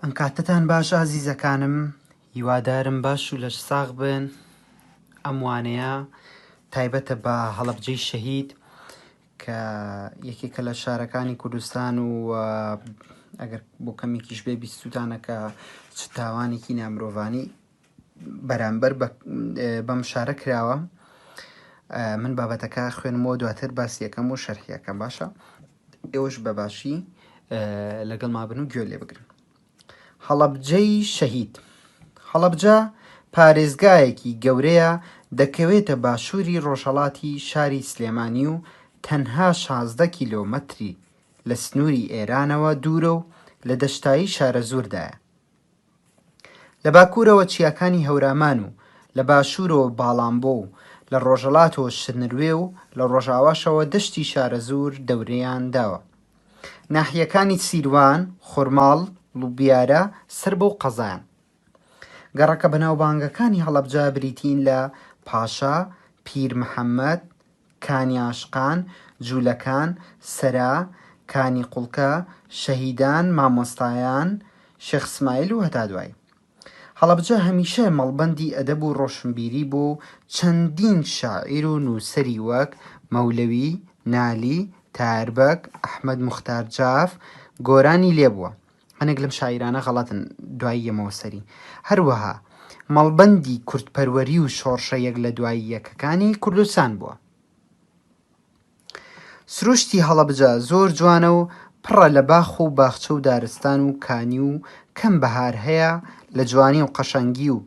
ئەم کاتتان باش ئازیزەکانم هیوادارم باش و لەش ساغ بن ئەم وانەیە تایبەتە بە هەڵبجەی شەهید کە یەکێکە لە شارەکانی کوردستان و ئەگەر بۆ کەمێکیش بێ بیستوتانەکە چ تاوانێکی نامرۆڤانی بەرامبەر بە بەم شارە کراوە من بابەتەکە خوێنمەوە دواتر باسی یەکەم و شەرحیەکەم باشە ئێوەش بەباشی لەگەڵ مابن و گوێ لێ بگرن هەڵەبجەی شەهید هەڵەبجە پارێزگایەکی گەورەیە دەکەوێتە باشووری ڕۆژهڵاتی شاری سلێمانی و تەنها 16 کیلۆمەتری لە سنووری ئێرانەوە دوورە و لە دەشتایی شارەزووردایە لە باکوورەوە چیاکانی هەورامان و لە باشوورەوە باڵانبۆ و لە ڕۆژەڵاتەوە شرنروێ و لە ڕۆژاواشەوە دەشتی شارەزوور دەورەیان داوە. ناحیەکانی سیروان، خورماڵ، لوبیارە سەر بەو قەزایەن. گەڕەکە بەناوبانگەکانی هەڵەبجە بریتین لە، پاشا، پیر محەممەد، کانی عاشقان، جوولەکان، سەرا، کانی قوڵکە، شەهیدان، مامۆستایان، شێخ سمایل و هەتا دوایی. هەڵەبجە هەمیشە مەڵبەندی ئەدەب و ڕۆشنبیری بووە و چەندین شاعیر و نووسەری وەک، مەولەوی، نالی، تایەربەگ، ئەحمەد موختار جاف، گۆرانی لێ بووە. هەنێک لەم شاعیرانە غەڵەتن دوای یەمەوە سەری هەروەها مەڵبەندی کوردپەروەری و شۆڕشە یەک لە دوای یەکەکانی کوردستان بووە. سروشتی هەڵەبجە زۆر جوانە و پڕە لە باخ و باخچە و دارستان و کانی و کەم بەهار هەیە لە جوانی و قەشەنگی و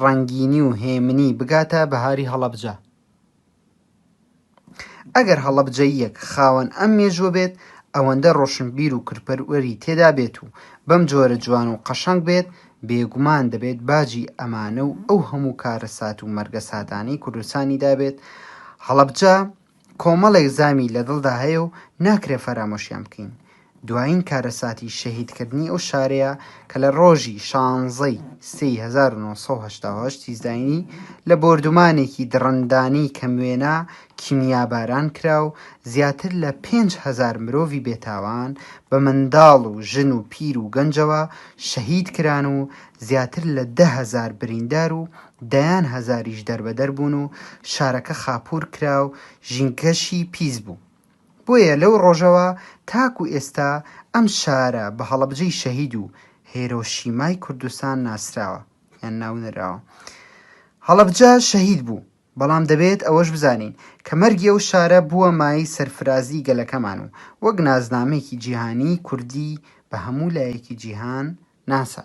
ڕەنگینی و هێمنی بگاتە بەهاری هەڵەبجە. ئەگەر هەڵەبجەییەک خاوەن ئەم مێژووە بێت، ئەوەندە ڕۆشنبیر و کردپەروەری تێدا بێت و بەم جۆرە جوان و قەشەنگ بێت، بێگومان دەبێت باجی ئەمانە و ئەو هەموو کارەسات و مەرگەساتانەی کوردستانی دابێت، هەڵەبجە کۆمەڵێک زامی لە دڵدا هەیە و ناکرێت فەرامۆشیان بکەین، دوایین کارەساتی شەهیدکردنی ئەو شارەیە کە لە ڕۆژی شانزەی سێی هەزار و نۆ سەد و هەشتا و هەشت ی زاینی لە بۆردومانێکی دڕندانەی کەموێنە کیمیاباران کرا و زیاتر لە پێنج هەزار مرۆڤی بێتاوان بە منداڵ و ژن و پیر و گەنجەوە شەهید کران و زیاتر لە دە هەزار بریندار و دەیان هەزاریش دەربەدەر بوون و شارەکە خاپوور کرا و ژینگەشی پیس بوو. بۆیە لەو ڕۆژەوە تاکو ئێستا ئەم شارە بە هەڵەبجەی شەهید و هێرۆشیمای کوردستان ناسراوە یان ناونراوە. هەڵەبجە شەهید بوو، بەڵام دەبێت ئەوەش بزانین کە مەرگی ئەو شارە بووە مایەی سەرفرازی گەلەکەمان و وەک نازنامەیەکی جیهانیی کوردی بە هەموو لایەکی جیهان ناسا.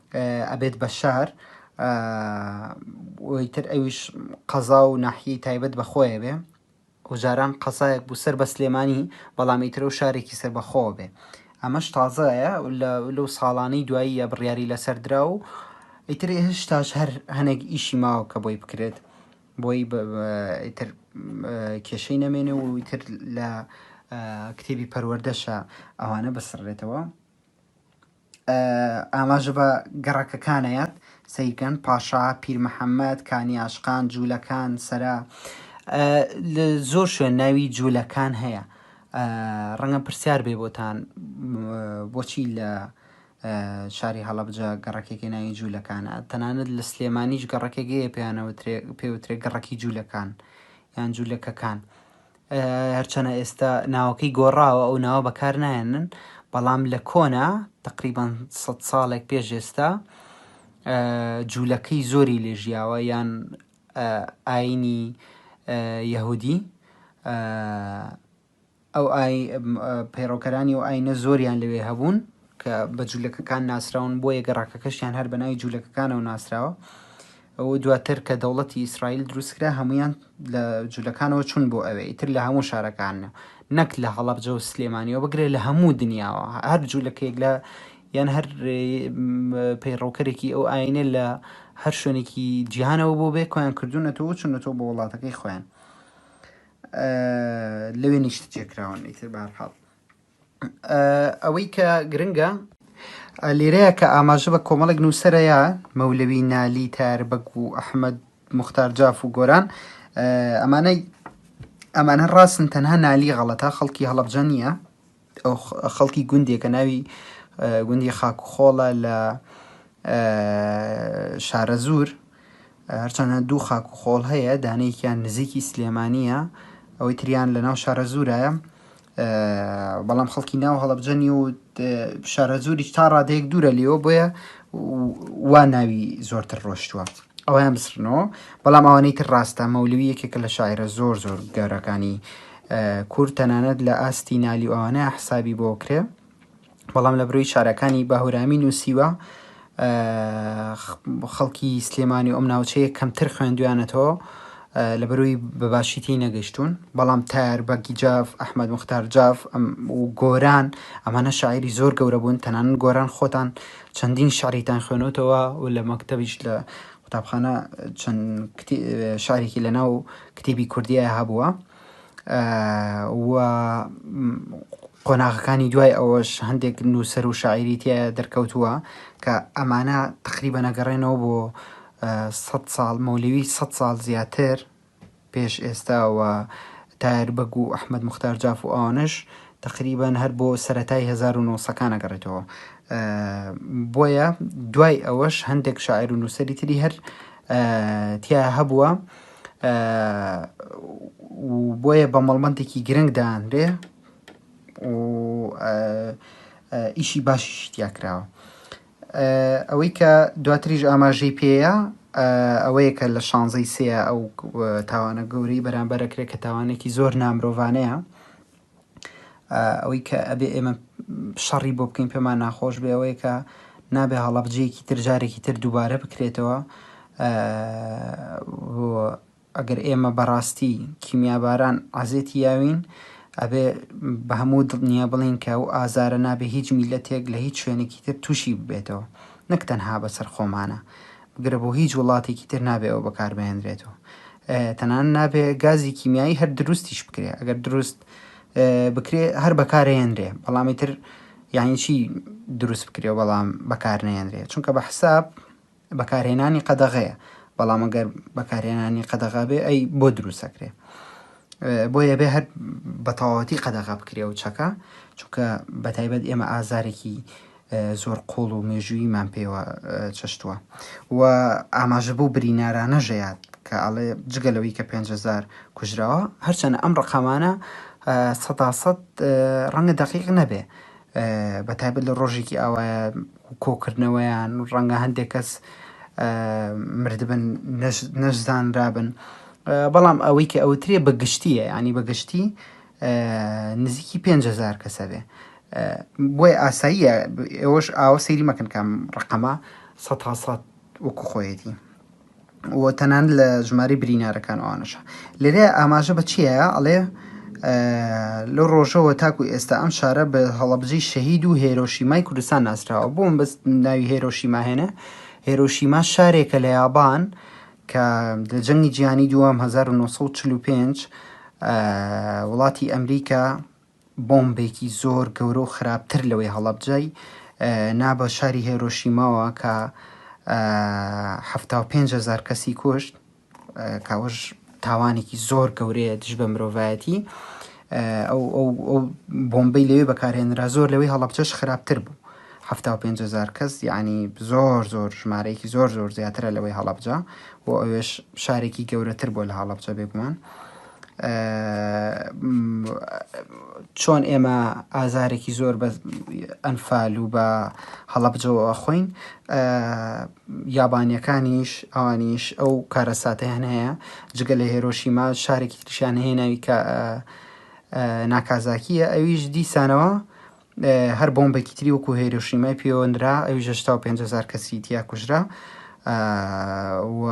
ئەبێت بە شار وی تر ئەویش قەزا و ناحیەی تایبەت بە خۆیە بێ و جاران قەزایەک بوو سەر بە سلێمانی بەڵام ئیترە و شارێکی سەر بەخۆ بێ ئەمەش تازەیە لەو ساڵانەی دواییە بڕیاری لەسەر درا و ئیتر هشتاش هەر هەنێک ئیشی ماوە کە بۆی بکرێت بۆی ئیتر کێشەی نەمێنێ و ئیتر لە کتێبی پەروەردەشە ئەوانە بسڕێتەوە ئاماژە بە گەڕەکەکانەیەت سەیرکەن، پاشا، پیرمحەمەد، کانی ئاشقان، جوولەکان، سەرا. لە زۆر شوێن ناوی جوولەکان هەیە. ڕەنگە پرسیار بێ بۆتان بۆچی لە شاری هەڵەبجە گەڕەکێکی ناوی جوولەکانە تەنانەت لە سلێمانیش گەڕەکێکەیە پێیانەوە پێوترێ گەڕەکی جوولەکان یان جوولەکەکان هەرچەنە ئێستا ناوەکەی گۆڕاوە ئەو ناوە بەکار نایەنن بەڵام لە کۆنا تقریبان سە ساڵێک پێش ئێستا جوولەکەی زۆری لێ ژیاوە یان ئاینی یەهودی ئەو ئای پەیڕەوکەرانی و ئاینە زۆریان لەوێ هەبوون کە بە جولەکەکان ناسراون، بۆیە گەڕەکەکەشیان هەر بە ناوی جولەکەکانەوە ناسراوە. ئەو دواتر کە دەوڵەتی ئیسرائیل دروستکرا هەمویان لە جولەکانەوە چون بۆ ئەوێ ئیتر لە هەموو شارەکانە نەک لە هەڵەبجە و سلێمانیەوە بگرێت لە هەموو دنیاوە هەر جولەکەیەک لە یان هەر پەیڕەوکەرێکی ئەو ئاینە لە هەر شوێنێکی جیهانەوە بۆ بێ کۆیان کردوونەتەوە چونەتەوە بۆ وڵاتەکەی خۆیان لەوێ نیشت جێکراون ئیتر بارحاڵ ئەوەی کە گرنگە لێرەیە کە ئاماژە بە کۆمەڵێک نووسەرەیە مەولەوی نالی تاربەگ و ئەحمد مختار جاف و گۆران ئەمانەی ئەمانە ڕاستن تەنها نالی غەڵەتە خەڵکی هەڵبجە نییە ئەو خەڵکی گوندێکە ناوی گوندی خاک و خۆڵە لە شارەزور هەرچەنە دوو خاک و خۆڵ هەیە دانەیەکیان نزیکی سلێمانیە ئەوەی تریان لە ناو شارەزورایە بەڵام خەڵکی ناو هەڵەبجە نی و شارەزووریش تا ڕادەیەک دوورە لێەوە بۆیە وا ناوی زۆرتر ڕۆشتووە ئەویان بسرنەوە بەڵام ئەوانەی تر ڕاستە مەولوی یەکێکە لە شاعرە زۆر زۆر گەورەکانی کورد تەنانەت لە ئاستی نالی ئەوانە حسابی بۆ کرێ بەڵام لە برۆی شارەکانی باهورامی نووسیوە خەڵکی سلێمانی و ئەم ناوچەیە کەمتر خوێندویانەتەوە لە بەروی بەباشی تی نەگەشتون بەڵام تار بەگی جاف ئەحمد مختار جاف و گۆران ئەمانە شاعری زۆر گەورە بوون تەنان گۆران خۆتان چەندین شعریتان خوێنەوتەوە و لە مەکتتەبیش لە قوتابخانە چەند شارێکی لەناو کتێبی کوردیە هەبووە و قۆناغەکانی دوای ئەوەش هەندێک نووسەر و شاعری تیا دەرکەوتووە کە ئەمانە تقریبە نەگەڕێنەوە بۆ سە ساڵ مەولەوی سە ساڵ زیاتر پێش ئێستاوە تار بەگ و ئەحمد مختار جاف و ئەوانش تقریبان هەر بۆ سەتای 1970ەکانە گەڕێتەوە بۆیە دوای ئەوەش هەندێک شاعر و نووسری تری هەر تیا هەبووە و بۆیە بە مەڵبەندێکی گرنگ دانرێ و ئیشی باشیشی تیا کراوە ئەوەی کە دواتریش ئاماژەی پێەیە ئەوەیە کە لە شانزەی سێ ئەو تاوانە گەورەی بەرامبەرەکرێت کە تاوانێکی زۆر نامرۆڤانەیە ئەوەی کە ئەبێ ئێمە شەڕی بۆ بکەین پێمان ناخۆش بێ ئەوەیە کە نابێ هەڵەبجەیەکی تر جارێکی تر دووبارە بکرێتەوە ئەگەر ئێمە بەڕاستی کیمیاباران عزێتی یاوین ئەبێ بە هەموو دڵنیا بڵین کە و ئازارە نابێ هیچ میلەتێک لە هیچ شوێنێکی تر تووشی ببێتەوە نەک تەنها بەسەر خۆمانە گرە بۆ هیچ وڵاتێکی تر نابێ ئەوە بەکاربهێنرێت و تەنان نابێ گازی کیمیایی هەر دروستیش بکرێ ئەگەر دروست بکرێ هەر بەکارهێنرێ بەڵامی تر یعنی چی دروست بکرێ بەڵام بەکار نێنرێ چونکە بە حساب بەکارهێنانی قەدەغەیە بەڵام ئەگەر بەکارهێنانی قەدەغا بێ ئەی بۆ دروستەکرێ بۆیە بێ هەر بەتەواوەتی قەدەغا بکرێ و چەکە چونکە بەتایبەت ئێمە ئازارێکی زۆر قوڵ و مێژووییمان پێوە چەشتووە و ئاماژە بەو برینارانەش یات کە ئەڵێ جگە لەوەی کە پێنج هەزار کوژراوە هەرچەنە ئەم ڕقامانە سەدا سەد ڕەنگە دەقیق نەبێ بە تایبەت لە ڕۆژێکی ئاوایە کۆکردنەوەیان ڕەنگە هەندێک کەس مردبن نەشزانرابن بەڵام ئەوەی کە ئەوترێ بە گشتیە ینی بەگشتی نزیکی پێنج هەزار کەس هەبێ بۆیە ئاساییە ئێوەش ئاوە سەیری مەکەن کام ڕقەمە سە هاسات وەکو خۆیەتی و تەنان لە ژماری برینارەکان ئەوانەشە لێرە ئاماژە بە چیە ئەڵێ لەو ڕۆژەوە تاکو ئێستا ئەم شارە بە هەڵەبجەی شەهید و هێرۆشیمای کوردستان ناسراوە بۆم بەس ناوی هێرۆشیماهێنە هێرۆشیما شارێکە لە یابان کە لە جەنگی جیهانی دووەم هەزار و نۆ سەد و چل و پێنج وڵاتی ئەمریکا بۆمبێکی زۆر گەورە و خراپتر لەوەی هەڵەبجەی نا بە شاری هێرۆشیماوە کە حەفتا و پێنج هەزار کەسی کوشت اه، کاوەش تاوانێکی زۆر گەورەیە دژ بە مرۆڤایەتی اه، ئەو ئەو ئەو بۆمبەی لەوێ بەکارهێنرا زۆر لەوەی هەڵەبجەش خراپتر بوو حەفتا و پێنج هەزار کەس یەعنی زۆر زۆر ژمارەیەکی زۆر زۆر زیاترە لەوەی هەڵەبجە بۆ ئەوێش شارێکی گەورەتر بۆ لە هەڵەبجە بێگومان چۆن ئێمە ئازارێکی زۆر بە ئەنفال و بە هەڵەبجەوە خۆین یابانیەکانیش ئەوانیش ئەو کارەساتیان هەیە جگە لە هێرۆشیما شارێکی تریشیان هەیە ناوی کە ناکازاکیە ئەویش دیسانەوە هەر بۆمبێکی تری وەکو هێرۆشیمای پێوەندرا ئەویش هەشتا و پێنج هەزار کەسی تیا کوژرا و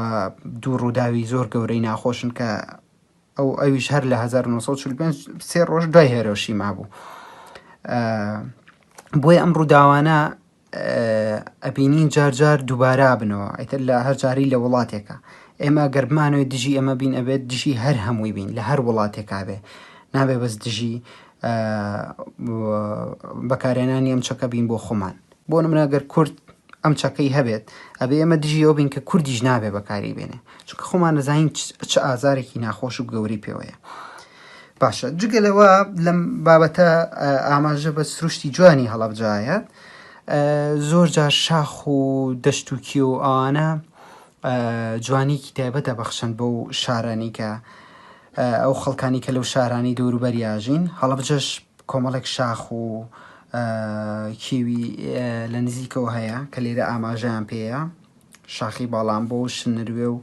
دوو ڕووداوی زۆر گەورەی ناخۆشن کە ئەو ئەویش هەر لە 1945 سێ ڕۆژ دوای هێرۆشیما بوو بۆیە ئەم ڕووداوانە ئەبینین جار جار دووبارە بنەوە ئیتر لە هەر جاری لە وڵاتێکە ئێمە گەربمانەوەی دژی ئەمە بین ئەبێت دژی هەر هەمووی بین لە هەر وڵاتێکا بێ نابێ بەس دژی بەکارێنانی ئەم چەکە بین بۆ خۆمان بۆ منەگەر کورد ئەم چەکەی هەبێت ئەبێ ئەمە دژی ئەو بین کە کوردیش نابێ بەکاری بێنێ چونکە خۆمان نەزانین چ ئازارێکی ناخۆش و گەوری پێوەیە. باشە جگە لەوە لەم بابەتە ئاماژە بە سروشتی جوانی هەڵەبجایە زۆر جار شاخ و دەشتوکی و ئەوانە جوانیکی تایبەتە بەخشن بۆ و شارانی کە ئەو خەڵکانی کە لەو شارانی دەوروبەریاژین هەڵبجەش کۆمەڵێک شاخ و کێوی لە نزیکەوە هەیە کە لێرە ئاماژیان پێەیە شاخی باڵانبۆ و شنروێ و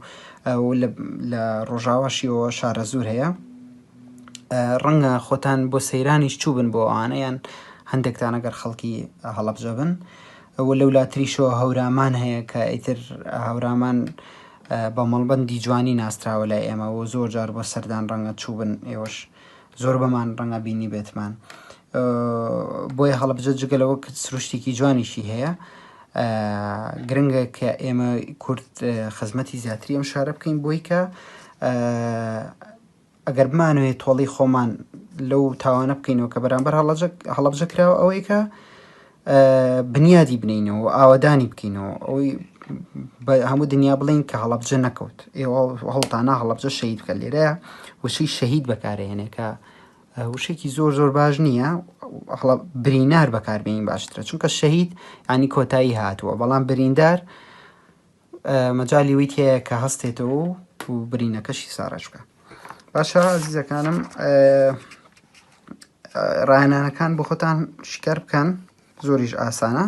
و لە لە ڕۆژاواشیەوە شارەزوور هەیە ڕەنگە خۆتان بۆ سەیرانیش چوو بن بۆ ئەوانەیان هەندێکتان ئەگەر خەڵکی هەڵەبجە بن ئەوە لەو لاتریشەوە هەورامان هەیە کە ئیتر هەورامان بە مەڵبندی جوانی ناسراوە لای ئێمە و زۆر جار بۆ سەردان ڕەنگە چوو بن ئێوەش زۆر بەمان ڕەنگە بینی بێتمان بۆیە هەڵەبجە جگە لەوە کە سروشتێکی جوانیشی هەیە گرنگە کە ئێمە کورد خزمەتی زیاتری ئەم شارە بکەین بۆی کە ئەگەر بمانوێت تۆڵی خۆمان لەو تاوانە بکەینەوە کە بەرامبەر هەڵەبجە کراوە ئەوەی کە بنیادی بنینەوە و ئاوادانی بکەینەوە ئەوەی هەموو دنیا بڵین کە هەڵەبجە نەکەوت ئێوە هەڵتانە هەڵەبجە شەید بکە لێرە وشی شەهید بەکارێنێکە وشەکی زۆر زۆر باش نییە هەڵە برینار بەکاربیین باشترە چونکە شەهید ینی کۆتایی هاتووە بەڵام بریندار مەجای ویت هەیە کە هەستێتەوە و برینەکەشی ساڕژ بکە باشە زیزەکانم ڕایانانەکان بۆ خۆتان شکار بکەن زۆریش ئاسانە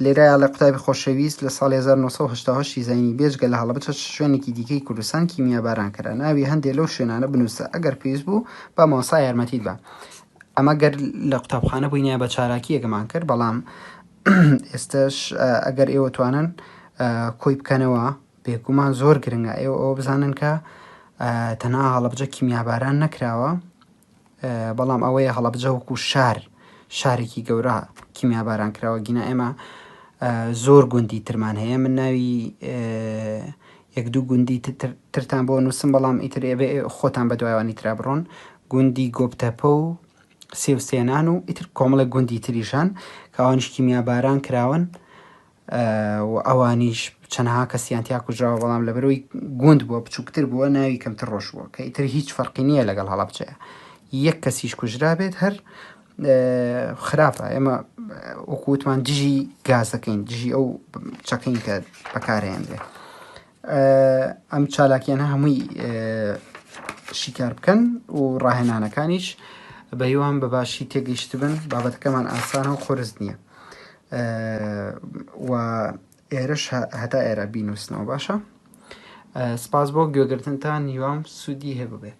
لێرە لە قوتابی خۆشەویست لە ساڵی 1970 دیزاینی بێجگە لە هەڵەبچە شوێنێکی دیکەی کوردستان کیمیا باران کرا ناوی هەندێک لەو شوێنانە بنووسە ئەگەر پێویست بوو با مامۆستا یارمەتیت بە ئەمە گەر لە قوتابخانە بووینە بە چاراکیەکەمان کرد بەڵام ئێستش ئەگەر ئێوە توانن کۆی بکەنەوە بێگومان زۆر گرنگە ئێوە ئەوە بزانن کە تەنها هەڵەبجە کیمیاباران نەکراوە بەڵام ئەوەیە هەڵەبجە وەکو شار شارێکی گەورە کیمیا باران کراوە گینا ئێمە زۆر گوندی ترمان هەیە من ناوی یەک دوو گوندی ترتان بۆ نووسم بەڵام ئیتر ئێبێ خۆتان بە دوایوانی ترا بڕۆن گوندی گۆپتەپە و سێوسێنان و ئیتر کۆمەڵە گوندی تریشان کاوانشکی میاباران کراون و ئەوانیش چەنەها کەسیان تیا کوژراوە بەڵام لەبەرەوەی گوند بووە بچووکتر بووە ناوی کەمتر ڕۆژ بووە کە ئیتر هیچ فەرقی نییە لەگەڵ هەڵەبچەیە یەک کەسیش کوژرابێت هەر خراپە ئێمە وەکووتمان دژی گازەکەین دژی ئەو چەکەین کە بەکارهێنرێت ئەم چالاکیانە هەمووی شیکار بکەن و ڕاهێنانەکانیش بەهیوام بە باشی تێگەیشت بن بابەتەکەمان ئاسانە و خۆرز نییە و ئێرش هەتا ئێرە بینوسنەوە باشە سپاس بۆ گوێگرتنتان هیوام سوودی هەبووبێت